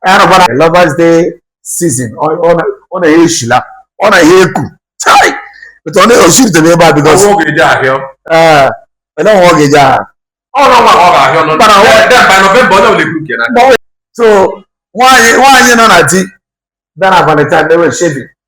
arụbara lovers day season ọ na ya eshila ọ na ya eku etu ọ na-eosi rute n'ebe a bikos ọ ga-eji ahịa ele nwa ọ ga-eji ahịa so nwaanyị nọ na di dara valentine na-eme shaving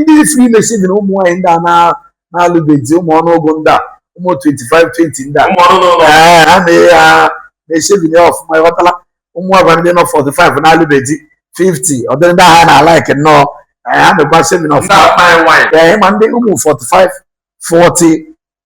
ndị fri mee shaving na ụmụ nwaanyị ndị a na-alụbeghị ụmụ ọnụọgụ ndị a ụmụ 25 20 ndị a na-eme shaving ọfụma ịghọtala ụmụ nwaanyị ndị nọ 45 na-alụbeghị 50 ọ dịrị ndị ha na-alike nnọọ ha mekwa shaving ọfụma ma ndị ụmụ 45 40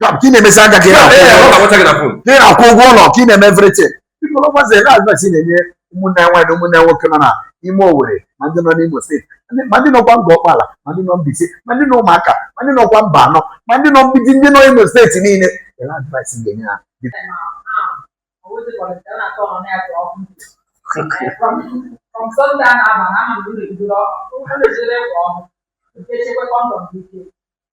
ka ị na-emesi aka ka ị na-akwụ ụgwọ ụlọ ka ị na-eme everything biko lọgwazi na advice ị na-enye ụmụnne nwaanyị na ụmụnne nwoke nọ na ime Owerri ma ndị nọ n'Imo steeti ma ndị nọkwa Ngor Okpala ma ndị nọ Mbaise ma ndị nọ Umuaka ma ndị nọkwa Mbano ma ndị nọ Mgbidi ndị nọ Imo steeti niile ele advice ị ga-enye ha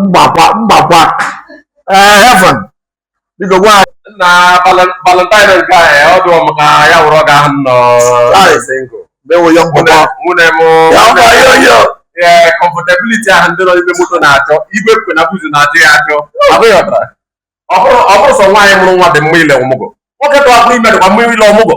mgbakwa mgbakwa ee heaven biko gwa na valentine nke a ọ dụọ m ka ya wụrụ ọga ahụ nọ mewo ya mgbakwa nwunye m ee comfortability ahụ ndị nọ n'ime moto na-achọ igwe kwe na buzu na-achọ ya achọ abụghị ọtara ọ bụrọ sọ nwaanyị mụrụ nwa dị mma ile ọmụgwọ nwoke tụwapụrụ ime dịkwa mma ile ọmụgwọ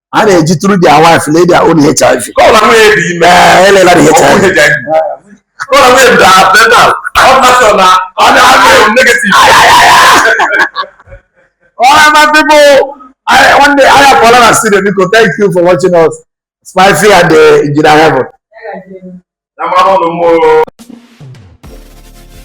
a na-eji tru dia wif lee dia on hiv elela dị nwanne anya pụọla na studio biko thank you for watching us spicy and the engineer heaven